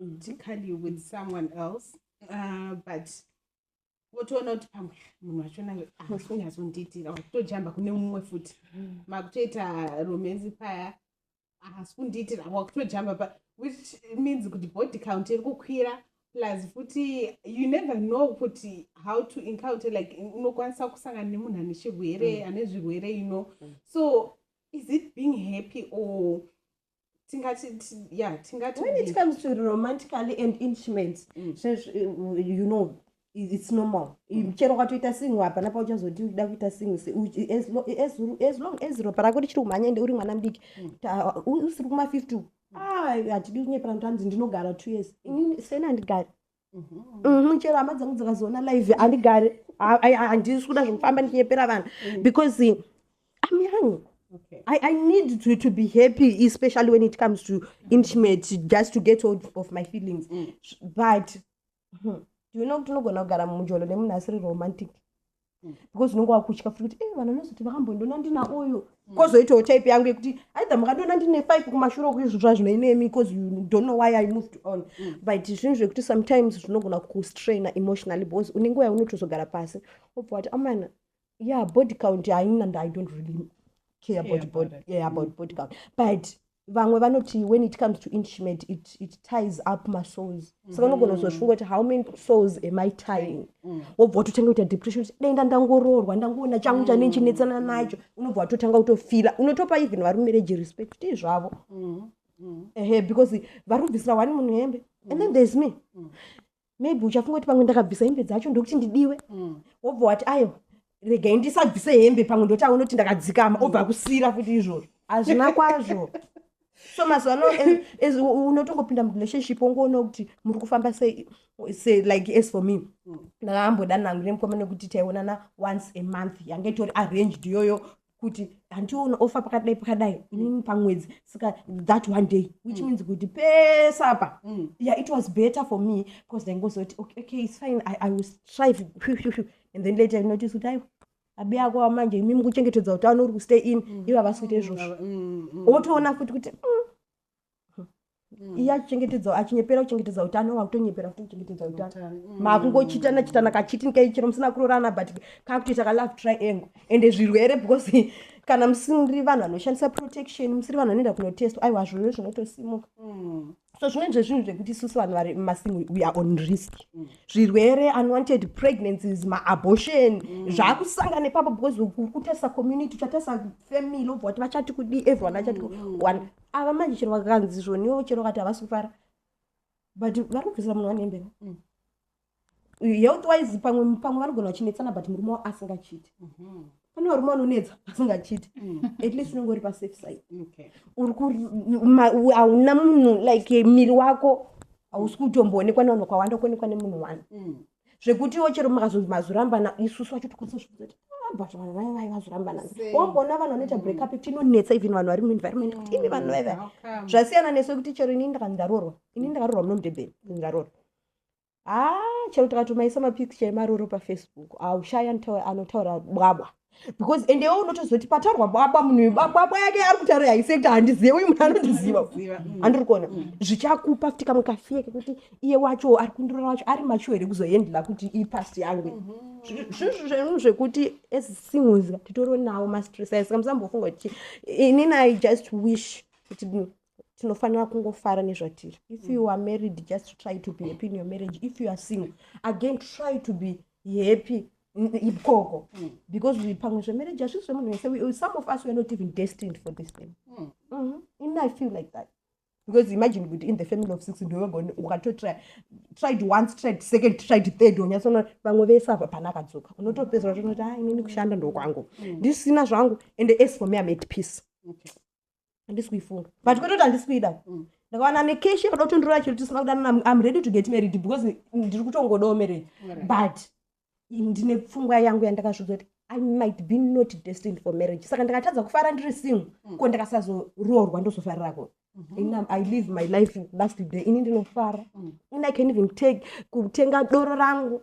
medically with someone else uh, but wotoona kuti pamwe munhu vachona haasikunyazondiitira wakutojamba kune mumwe futi mm. makutoita romenzi paya haasi kundiitira wakutojamba pa which means kuti body count iri kukwira plus futi you never know kuti how to encounter like unokwanisa kusangana nemunhu ane chirwere mm. ane zvirwere you know mm. so is it being happy or tingati yeah tingati when it comes to romantically and intimate mm. so, uh, you know it's normal mm. chero ukatoita singo hapana pauchazoti uchida kuita singo as long as ropa rako richiri kumhanya ende uri mwana mudiki mm. usiri kuma 50 hatidi kunyeperanto hanzi ndinogara two years sena ndigari chero hama dzangu dzakazoona live handigari handisi kuda zvekufamba ndichinyepera vanhu mm. because eh, im young Okay. I, I need to, to be happy, especially when it comes to intimate, just to get hold of my feelings. Mm. But hmm, do you know tinogona kugara mujolo nemunhu asiri romantic because unenge wakutya futi kuti e eh, vanhu vanozoti vakambondiona ndina uyu mm. kozoitawo type yangu yekuti aidha mukandiona ndine five kumashure uku izvo zvazvino inemi because you don't know why i moved on mm. but zvinhu zvekuti sometimes zvinogona kustraina emotionally because une nguva yaunotozogara pasi obva wati amana yeah body count haina and i don't really care about body, yeah, about mm. body count but vamwe vanoti when it comes to instrument it, it ties up masouls mm. saka unogona kuzozvifunga kuti how many souls am i tying mm. wobva watotanga kuita depression kuti denda ndangoroorwa ndangoona changu chane mm. chinetsana nacho unobva watotanga kutofila unotopa even vari mumereji respect kuti zvavo mm. mm. ehe because vari kubvisira wani munhu hembe and then thereis me mm. maybe uchafunga kuti pamwe ndakabvisa hembe dzacho ndokuti ndidiwe mm. wobva wati aiwa regai ndisabvise hembe pamwe ndoti aona kuti ndakadzikama obva akusiyira futi izvozvo hazvina kwazvo so mazuva ano unotongopinda murelationship wongoona kuti muri kufamba sei se like as for me mm. ndakaambodanangu nemukoma nekuti taionana once a month yange itori arranged iyoyo kuti handiona ofa pakadai pakadai inini pamwedzi saka that one day which mm. means kuti pese apa mm. yeah it was better for me because ndaingozoti okay, okay it's fine i, I was try and then later notice kuti aiwa abi yako wamanje imimi kuchengetedza utano uri kustay in mm. ivo havasi kuita izvozvo mm, mm, mm. wotoona futi kuti mm. mm. iye achichengetedza achinyepera kuchengetedza utano wakutonyepera futi kuchengetedza utano mm. makungochitana chitana kachitini kaichero musina kurorana but kakutoita kalove triangle ende zvirwere because kana musiri vanhu vanoshandisa protection musiri vanhu vanoenda kunotestwa aiwa zvirwere zvinotosimuka mm. so zvimweni zvezvinhu zvekuti isusu vanhu vari mumasing we are on risk mm. zvirwere unwanted pregnancies maabortion mm. zvaakusanga nepapo because ukutarisa community uchatarisa family obva wati vachati kudii everyone achati mm. one ava manje chero vakanzi zvoniwo chero kati havasi kufara but vari kubvisira munhu wane mbeva mm. health wise pamwe pamwe vanogona vachinetsana but murume wavo asingachiti mhm. pane varume vanonetsa asingachiti mm. at least unenge uri pasafe side hauna munhu like miri wako hausi kutomboonekwa nevanhu kwawanda kuonekwa nemunhu one zvekutiwo chero mukazonzi mazorambana isusu vacho tikwanisa zvekuzoti ah, but vanhu vaya vaya vazorambana wamboona vanhu vanoita mm. breakup tinonetsa even vanhu vari muenvironment kuti imi vanhu vaya vaya zvasiyana nesu kuti chero ini ndakanzi ndaroorwa ini ndakarorwa muno mudebeni ndaroorwa haa ah, chero tikatomaisa mapicture emaroro pafacebook aushaya anotaura bwabwa because and iwe unotozoti pataurwa baba munhu uyu baba yake ari kutaura haisekta handizive uyu munhu anondiziva mm. andiri kuona mm. zvichakupa futi kamwe kafie kekuti iye wacho ari kundirora wacho ari macho here kuzoendla kuti ipast yangu mm-hmm. zvinhu zvenhu zvekuti as singles titori nawo mastress ayo saka musambofunga kuti inini i just wish kuti tinofanira kungofara nezvatiri if you are married just try to be happy in your marriage if you are single again try to be yepi ikoko mm. because pamwe zvemarriage hazvisi zvemunhu wese some of us were not even destined for this thing mm. mm-hmm. in i feel like that because imagine kuti in the family of six ndovega ukatotry tried once tried second tried third unyatsona vamwe vese ava pana akadzoka unotopedzera tonoti ha ah, inini kushanda ndokwangu mm. ndisina zvangu and as for me am at peace handisi kuifunga but kwete kuti handisi kuida mm. ndakawana nekeshi yekuda kutondorora chiro tisina kudanana am ready to get married because ndiri kutongodawo marriage but ndine pfungwa yangu yandakazviudza kuti i might be not destined for marriage saka ndakatadza kufara ndiri single mm. ko ndakasazoroorwa ndozofarirako mm-hmm. i live my life last day ini ndinofara mm. ini i can even take kutenga doro rangu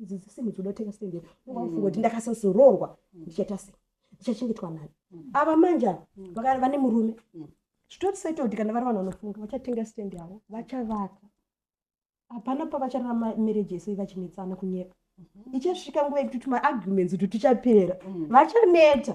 idzi dzisimu dzinotenga sende ungafunga kuti ndakasazoroorwa ndichaita sei ndichachengetwa nani ava manje ava vaka- vane murume zvitori settled kana vari vanhu vanofunga vachatenga stand yavo vachavaka hapana pavachararama marriage yese vachinetsana kunyeba ichasvika nguva yekuti tumaarguments kuti tuchapera vachaneta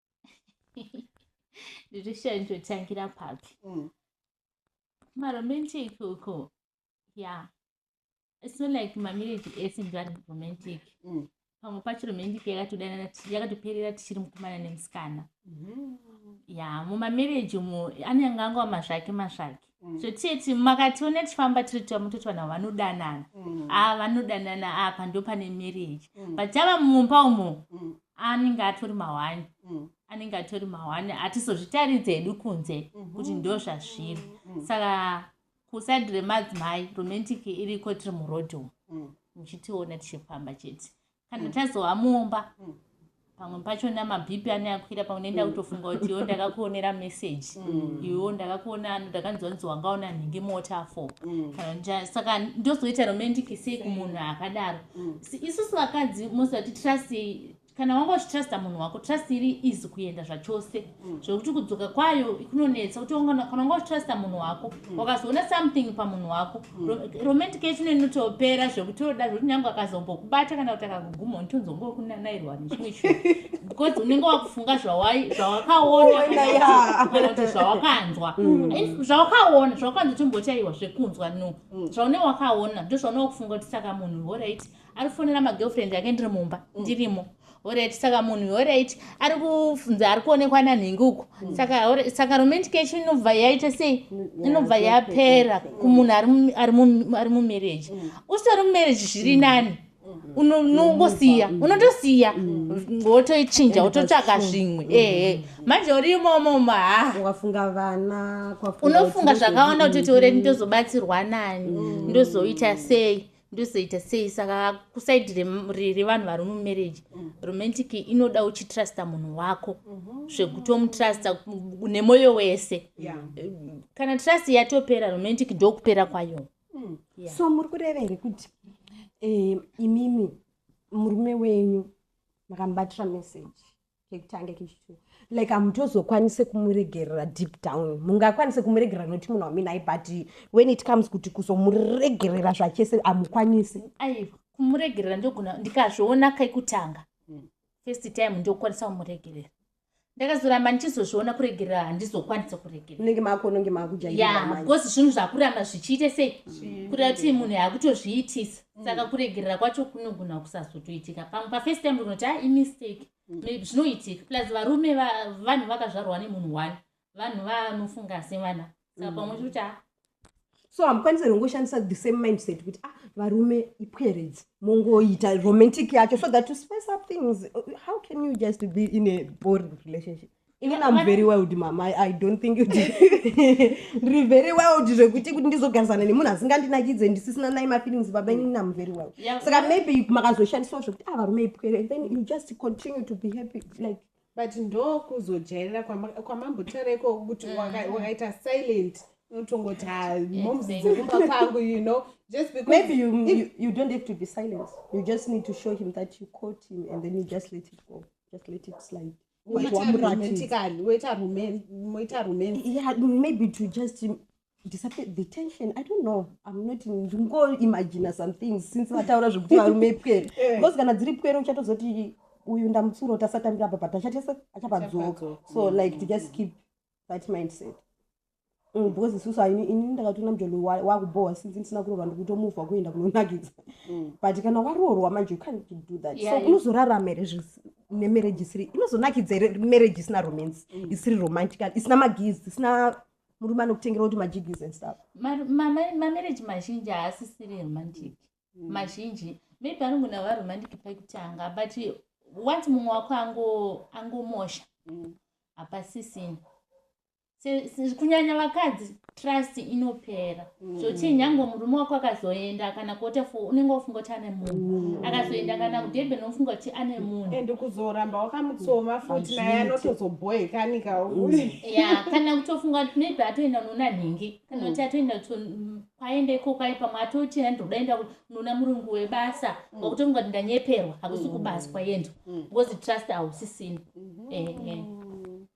nditoshaa nditotangira papi mm. maromantic uko ya it's not like mamarriage ese ndivani romantic mm. pamwe pacho romantic yakatodanana yakatoperera tichiri mukomana nemusikana mm-hmm. ya mumamarriage umo anenge angova mazvake mazvake Mm. so tete makationa tichifamba tiri tama toti vanhu vanodanana mm. a ah, vanodanana apa ndo pane marriage mm. but tava mumba umo anenge atori mahwani anenge atori mahwani hatizozvitaridze hedu kunze mhm. kuti ndo zvazviri saka kusaidi remadzimai romantic iriko tiri muroad umo muchitiona tichifamba chete kana mm. tazova mumba mm. pamwe pacho namabhipi ane akwira pamwe nenda mm. kutofunga kuti yo ndakakuonera message mm. iwo ndakakuona ano ndakanzwa nzi wanga una nhingi mota fo mm. kana saka ndozoita romantic sei kumunhu akadaro mm. isusu vakadzi mosati trust kana wanga uchitrusta munhu wako trust iri izi kuenda zvachose mm. zvekuti kudzoka kwayo kunonetsa kuti kana unga uchitrusta munhu wako mm. wakazoona something pamunhu wako mm. romantic yacho inotopera zvekuti oda zvekuti nyange akazombokubata kana kuti akakuguma unitonzongo kunanairwa nechimwe chinhu because unenge wakufunga zvawakaona kana kuti zvawakanzwa zvawakaona zvawakaona timbotaiwa zvekunzwa no zvaune wakaona ndozvaune wakufunga kuti saka munhu orit arifonera magirlfriend ake ndiri mumba ndirimo mm. Alright, saka munhu alright ari kufunza ari kuonekwa nanhingi uko mm. saka saka romantic yacho inobva yaita sei mm, inobva yapera kumunhu ari mumarriage mm. usitori mumarriage zviri nani unongosiya unotosiya wotoichinja wototsvaga zvimwe ehe manje uri imomo maaungafunga vana unofunga zvakawanda kutoti ure ndozobatsirwa nani ndozoita sei ndozoita sei saka kusaidi revanhu vari mumarriage mm. romantic inoda uchitrusta munhu wako mhm. zvekutomutrusta nemoyo wese kana trust yatopera romantic ndokupera kwayo mm. so muri kureva here kuti eh, imimi murume wenyu makamubatira message kekutanga kechitu like hamutozokwanise kumuregerera deep down mungakwanise kumuregerera noti munhu waminai but when it comes kuti kuzomuregerera zvachese hamukwanise aiwa kumuregerera ndogona ndikazviona kekutanga hmm. first time ndokwanisa kumuregerera ndakazoramba ndichizozviona kuregerera handizokwanisa kuregereraunenge makononge makujayabeause zvinhu zvakuramba zvichiite sei hmm. kuda kuti munhu akutozviitisa saka mm. kuregerera kwacho kunogona kusazotoitika pamwe pafirst time unoti a ah, imistake mm. zvinoitika plus varume vanhu vakazvarwa nemunhu one vanhu vanofunga sevana saka pamwe mm. chikuti a ah. so hamukwanise rongoshandisa the same mindset kuti ah varume ipweredzi mongoita romantic yacho so that to space up things how can you just be in a boring relationship even am very wild mama i don't think kuti ndiri very wild zvekuti kuti ndizogarisana nemunhu asingandinakidze ndisisina nai mafeelings baba inini am very wild saka maybe makazoshandiswa zvekuti a ah, varume ipwere and then you just continue to be happy like but ndokuzojairira kwamambotaura ikoko kuti mm. wakaita silent unotongoti ah, moms dzekumba kwangu you know just because maybe you, you, you don't have to be silent you just need to show him that you caught him and then you just let it go just let it slide Moita Wamurati. romantically, moita roman- moita romance. yeah maybe to just um, disappear the tension i don't know i'm not ndingoimagina some things since vataura zvekuti varume pwere Eh. because kana dziri pwere uchatozoti uyu ndamutsura kuti asatambira apa but achatese achapadzoka Achapadzoka. so like to just keep that mindset Mm, because isusu haini ini ndakatoona mjolo wakubohwa since ndisina kuroorwa ndikutomuvha kuenda kunonakidza mm. but kana waroorwa manje you can't do that so unozorarama here nemarriage isiri inozonakidza here marriage isina romance mm. isiri romantical isina magiz isina murume anokutengera kuti majigis and stuff mamarriage mazhinji haasisiri romantic mazhinji maybe anongona va romantic pakutanga but once mumwe wako angomosha hapasisina kunyanya vakadzi trust inopera mm. zvochii nyange murume wako akazoenda kana kuota fo unenge wafunga kuti ane munhu mm. akazoenda kana kudhebhe nofunga kuti ane munhu ende kuzoramba wakamutsoma futi naye anotozobhoekanika mm. ya kana kutofunga kuti maybe atoenda unoona nhingi kana kuti atoenda kwaenda ikoko ai pamwe atoti andodaenda unoona murungu webasa wakutofunga kuti ndanyeperwa hakusi kubaswa yendo because trust hausisina mm-hmm. ehe eh.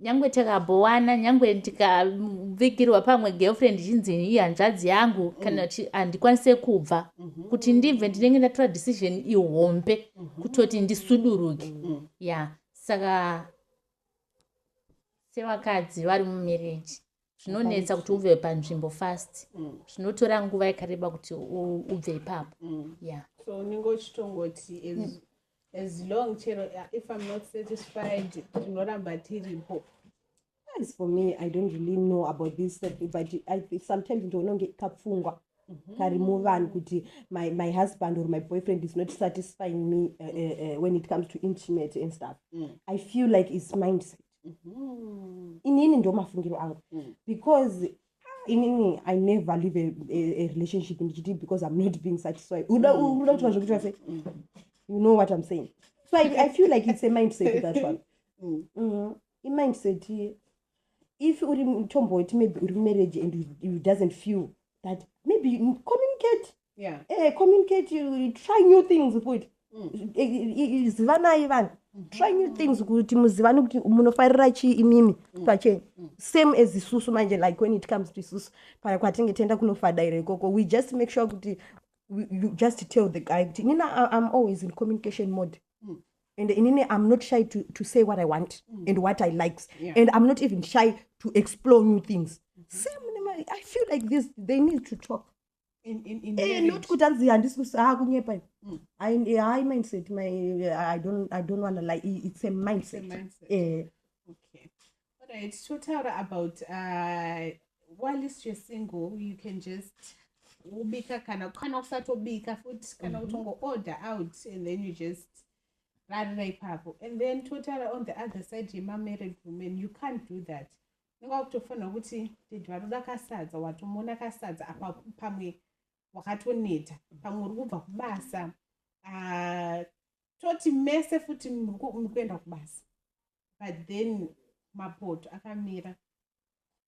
nyange takabhowana nyange ndikavigirwa pamwe girlfriend chinzi iyi hanzvadzi yangu mm. kana kuti handikwanise kubva mhm. kuti ndibve ndinenge ndatora decision ihombe mhm. kutoti ndisuduruke mm. ya saka sevakadzi vari mumereji zvinonetsa kuti ubve panzvimbo fast mm. zvinotora nguva yakareba kuti ubve ipapo mm. ya so unenge uchitongoti as long chero if im not satisfied tinoramba tiripo as for me i don't really know about this but I, sometimes ndioona kunge kapfungwa mm-hmm. kari muvanhu kuti my, my husband or my boyfriend is not satisfying me uh, uh, uh, when it comes to intimate and stuff mm. i feel like its mindset mm-hmm. inini ndo mafungiro angu mm. because inini i never live a, a, a relationship ndichiti because i'm not being satisfied uda mm. uda kuti vazvokuti vase mm. you know what i'm saying so i, I feel like it's a mindset that one mm. mm-hmm. imindset if uri tomboti maybe uri mumarriage and you, you doesn't feel that maybe communicate yeah. eh, communicate you try new things kuti mm. zivanai vanhu mm-hmm. try new things kuti muzivane kuti munofarira chii imimi mm. pacheni mm. same as isusu manje like when it comes to isusu paya kwatinge tienda kunofadaira ikoko we just make sure kuti you just tell the guy kuti nina i'm always in communication mode and inini i'm not shy to, to say what i want mm. and what i likes yeah. and i'm not even shy to explore new things mm -hmm. same i feel like this they need to talk eh, not kuti anzi handisi kusaa ah, kunyepa i mm. eh, mindset my, eh, i don't, I don't wanna lie it's a mindset, it's a mindset. Eh. Alright, totaura about uh, whilst you're single you can just ubika kana kana usatobika futi kana mm -hmm. utongo order out and then you just rarira ipapo and then totaura on the other side yemamarried woman you can't do that inga wakutofanira kuti dedi vanoda kasadza watomona kasadza apa pamwe wakatoneta pamwe uri kubva kubasa uh, toti mese futi mukuenda kubasa but then mapoto akamira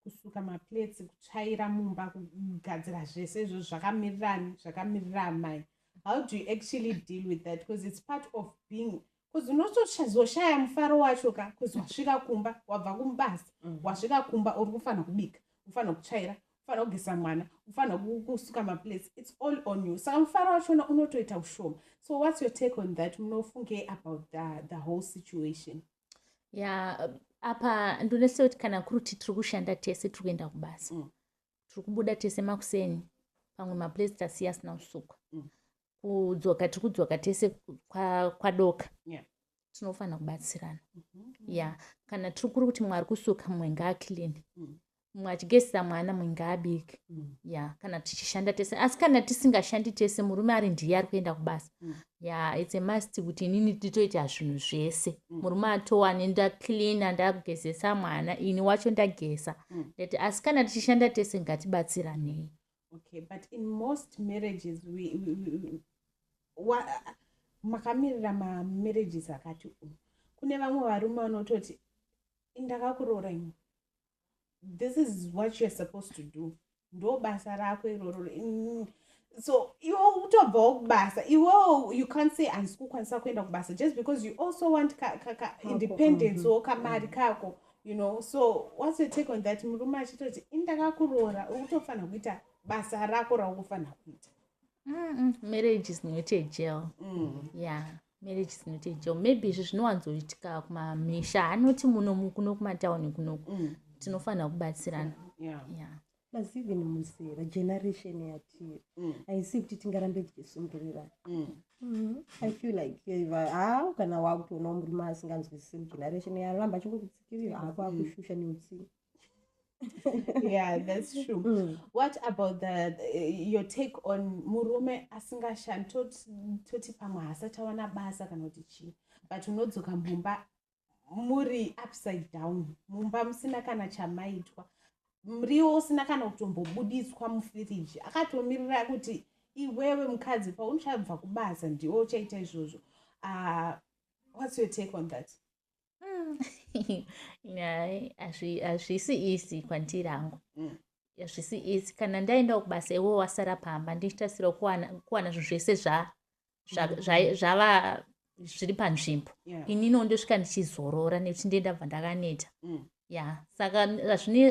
kusuka maplates kutsvaira mumba kugadzira zvese izvo zvakamirirani zvakamirira amai how do you actually deal with that because it's part of being bcause unotozoshaya mufaro wacho ka bcause wasvika kumba wabva kumubasa mm. wasvika kumba uri kufanira kubika ufanira kutsvaira unofanira kugeza mwana unofanira kusuka maplace its all on you saka mufaro wachona unotoita ushoma so whats your take on that munofungei about the, the whole situation ya yeah, apa ndonese kuti kana kuri kuti tiri kushanda tese tiri kuenda kubasa mm. tiri kubuda tese makuseni pamwe maplace tasiya asina kusukwa mm. kudzoka tiri kudzoka tese kwadoka yeah. tinofanira kubatsirana mm -hmm. ya kana tiri kuri kuti mwari kusuka mumwe ngaakilini mm -hmm mwachigezisa mwana mwinge abike mm. ya kana tichishanda tese asi kana tisingashandi tese murume ari ndiye ari kuenda kubasa mm. ya its a must kuti inini nditoita zvinhu zvese mm. murume atowane ndacleana ndagezesa mwana ini wacho ndageza mm. that asi kana tichishanda tese ngatibatsiranei okay but in most marriages we, we, we, wa, makamirira mamarriages akati umu kune vamwe varume vanototi ndakakuroora imwe this is what youare supposed to do ndo basa rako iroro mm. so iwe utobvawo kubasa iwe you can't say handisi kukwanisa kuenda kubasa just because you also want ka, ka, ka independence wo mm-hmm. kamari mm-hmm. kako you know so what's your take on that murume achitoti indakakuroora ukutofanira kuita basa rako raukufanira kuita marriage is not a jail mm. yeah marriage is not a jail maybe izvi zvinowanzoitika kumamisha anoti muno kuno kumatauni kunoku mm. tinofanira kubatsirana yeah. Yeah. plus even muzera generation yatiri mm. haisi kuti tingarambe tichisundurira mm. mm-hmm. i feel like eh, ha kana wakutoona murume asinganzwisisi mugeneration yaramba chikukutsikirira hako akushusha neutsinga yeah that's true mm. what about the, the eh, your take on murume asingashandi toti pamwe hasachawana basa kana kuti chii but unodzoka mumba muri upside down mumba musina kana chamaitwa muriwo usina kana kutombobuditswa mufiriji akatomirira kuti iwewe mukadzi pauchabva kubasa ndiwo uchaita izvozvo uh, what's your take on that hazvisi isi kwandiri angu mm. hazvisi isi kana ndaendawo kubasa iwo wasara pamba ndichitasira kuwana zvinhu zvese zva zvava zviri panzvimbo inino ndosvika ndichizorora nekuti ndiye ndabva ndakaneta mm. ya saka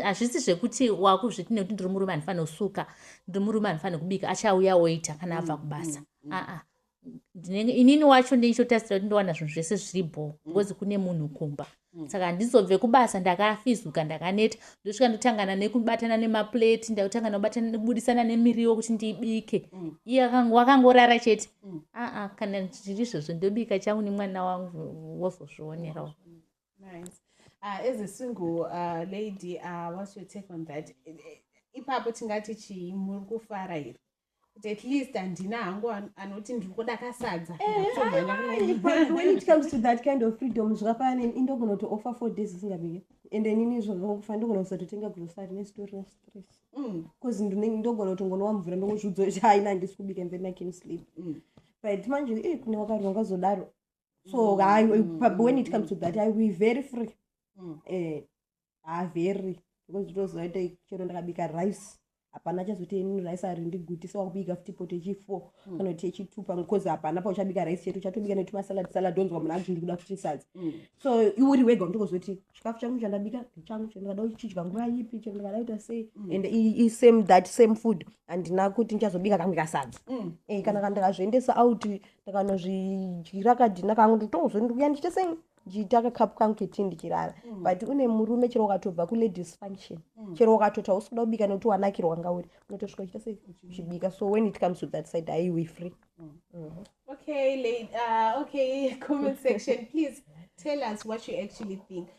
hazvisi zvekuti wakuzviti nekuti ndiri murume andifanira kusuka ndiri murume andifanira kubika achauya oita kana abva mm, kubasa mm, aa inini wacho ndichotarisira kuti ndowana zvinhu zvese zviri bho because kune munhu kumba mm. Mm. saka handizobve kubasa ndakafizuka ndakaneta ndosvika ndotangana nekubatana nemaplate ndakutanga nobudisana nemiriwo kuti ndibike mm. iye wakangorara chete mm. aa kana zviri izvozvo ndobika changu nemwana wangu wozozvionerawo ah, as a single uh, lady uh, what's your take on that ipapo tingati chii muri kufara here kuti at least handina hangu anoti ndiri kuda kasadza ndaaaaitcomestothatkindoffreedom zvakafana neni indogona kuti offer four days isingabike and inini zvakakufa ndogona kusatotenga grocery nesitori restress bcause mm. ndinenge ndogona kuti ngonowa mvura ndongozviudzo kuti haina handisi kubika and then i can sleep mm. but manje e kune wakarwa ngazodaro so mm. when it comes to that i will very free eh haa very because ndinoziva kuti chero ndakabika rice hapana chazoti ini rice ari ndigutisa wakubika futi poto yechifour mm. kana kuti yechitu pamwe bcause hapana pauchabika rice chetu chatobika netimasalad salad onzwa munhu azvindi kuda futi sadza mm. so iuri wega undikozoti chikafu changu chandabika ndichangu chero ndikada kuchidya nguva ipi chero ndikada kuita sei mm. and isame that same food handina kuti ndichazobika kamwe kasadza eh, kana kandikazviendesa out ndakanozvidyira kadhina kangu nditongozondiuya ndichite sei ndichiita kakapu kangu keti ndichirara mm. but une murume chero ukatobva kuladies function mm. chero ukatoti hausi kuda kubika nekuti wanakirwa nga uri unotosvika uchita sei uchibika so when it comes to that side haiwi free mm. mm-hmm. okay late, uh, okay comment section please tell us what you actually think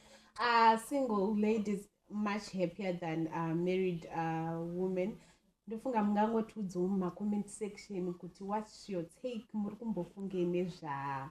uh, single ladies much happier than uh, married uh, women ndofunga mungangotiudzawo mumacoment section kuti whats your take muri kumbofungei nezva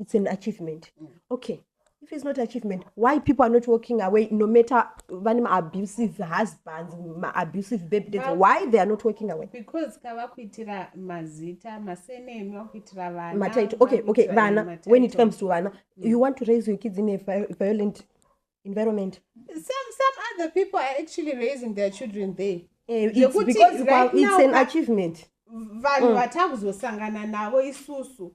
it's an achievement mm. okay if it's not achievement why people are not walking away no matter vane maabusive husbands maabusive babydads well, why they are not walking away because kava kuitira mazita masenemi vakuitira vana mataito okay okay vana when it comes to vana mm. you want to raise your kids in a violent environment some some other people are actually raising their children there uh, it's because right it's now, an achievement vanhu mm. vatakuzosangana navo isusu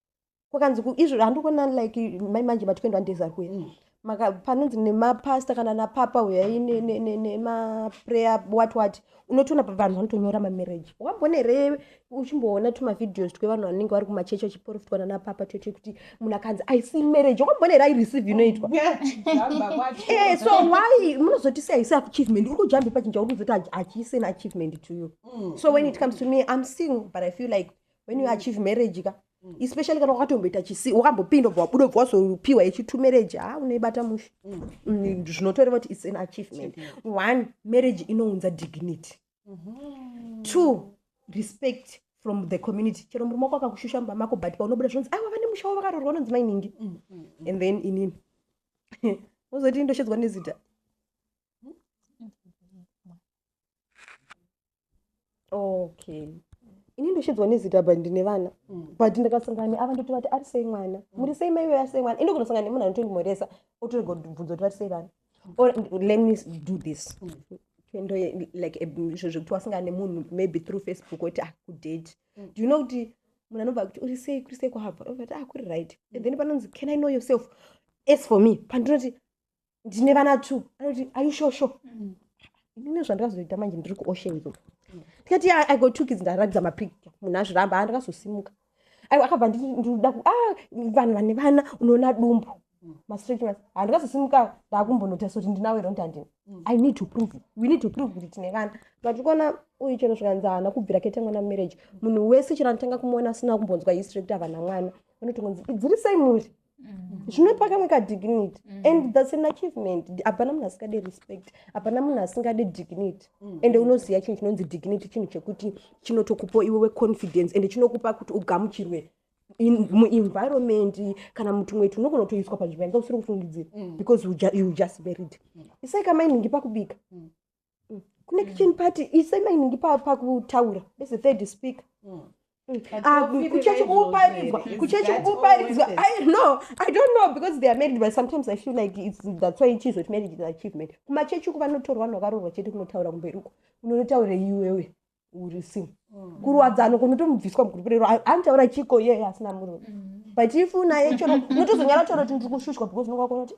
kwakanzi izvo handikuona like mai manje matikwendwa ndeza kuya mm. maka panonzi nemapasta kana napapa huyai nemaprayer wat wat unotoona vanhu vanotonyora mamarriage wambone here uchimboona tumavideos twevanhu vanenge vari kumachechi vachiporofitwa nanapapa toite kuti munhu akanzi i see marriage wakambone here aireceive inoitwa eh, so why munozoti sei haisi achievement uri kujambe pachinja uri kuzoti hachiiseni achievement to you mm. so when it comes to me i'm single but i feel like when you achieve marriage ka mm. especially kana wakatomboita chisi wakambopinda obva wabuda obva wazopiwa yechitu marriage ha ah, unoibata mushe mm. mm, zvinotoreva kuti its an achievement one marriage inounza dignity mm-hmm. two respect from the community chero murume wako akakushusha mumba mako but paunobuda zvinonzi aiwa vane musha wavo vakarorwa unonzi mainingi and then inini wozoti ndoshedzwa nezita okay ini ndoshidzwa nezita but ndine vana mm. but ndakasangana neava ndoti vati ari sei mwana mm. muri sei maive ari sei mwana ini ndokunosangana nemunhu anotondimoresa otorega bvunzo kuti vari sei vana mm. or let me do this ndo like izvo zvekuti wasangana nemunhu maybe through facebook oti akudate ah, do you know kuti munhu anobva kuti uri sei kuri sei kwahava ovati ah kuri right and then panonzi can i know yourself as for me pandinoti ndine vana two anoti are you sure sure mm. inini zvandakazoita manje ndiri kuocean zo ndikati yeah, i got two kids ndaratidza mapicture munhu azviramba andakazosimuka aiwa akabva ndikuda ku ah vanhu vane vana unoona dumbu mastreet mas handikazosimuka ndakumbonota soti ndinawo iro ndandini mm. i need to prove we need to prove kuti tine vana but kuona uyu chero zvikanzi haana kubvira kete mwana marriage munhu wese chero anotanga kumuona asina kumbonzwa history kuti avana mwana unotongonzi idziri sei muri Mm. zvinopa kamwe kadignity mm. and thats an achievement hapana munhu asingade respect hapana munhu asingade dignity mm. ende unoziva chinhu chinonzi dignity chinhu chekuti chinotokupo iwewe confidence ende chinokupa kuti ugamuchirwe muenvironment kana mutumwe ti unogona kutoiswa panzvimbo yanga usiri kufungidzira because you just married isai kamainhingi pakubika mm. kune mm. kitchen party isai mainingi pakutaura as a third speaker mm. Ah, kuchechi kuparidzwa kuchechi kuparidzwa i no i don't know because they are married but sometimes i feel like it's, that's why ichizo kuti marriage is achievement kumachechi uku vanotorwa vanhu vakaroorwa chete kunotaura kumberi uko unonotaura iwewe urisi mm. kurwadzano kunotomubviswa mugurupu rero anotaura chiko yeye asina murume mm. but if unaye chero unotozonyara chero kuti ndiri kushushwa because unonga kuona kuti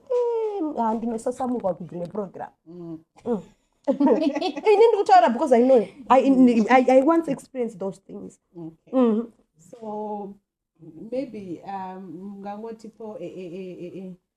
ah, ndinosasamurwa kudzimwe program mm. ini ndiri kutaura because i know i once experience those things mm-hmm. so maybe um, mungangotipo e, e, e,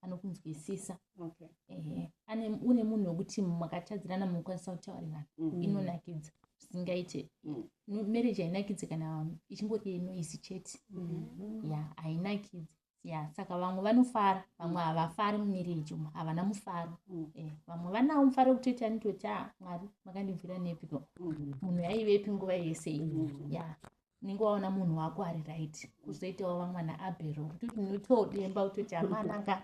anokunzwisisa okay. eh, ane une munhu wekuti makatadzirana munokwanisa kutaurirana mm -hmm. inonakidza zvisingaite mm. marriage hainakidze kana ichingori yenoisi chete mm -hmm. ya hainakidze ya saka vamwe vanofara vamwe mm. havafari mumarriage umu havana mufaro mm. eh, vamwe vanawo mufaro wekutoti anitoti a ah, mwari makandibvira nepiko mm. munhu yaivepi nguva yese iyi mm. ya unenge waona munhu wako ari right kuzoitawo vamwana abero kuti ndinotodemba kutoti amananga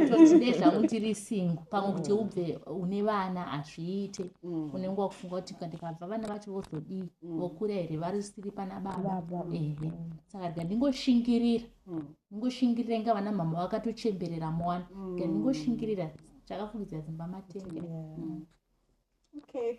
tozvide zvangu tiri singo pamwe kuti mm. ubve une vana hazviite mm. unenge wakufunga kuti ndikabva vana vacho vozodii mm. vokura here vari siri pana baba ehe saka rika ndingoshingirira ndingoshingirira inga vana mhama vakatochemberera mwana ka ndingoshingirira zvakafungidza dzimba matenge okay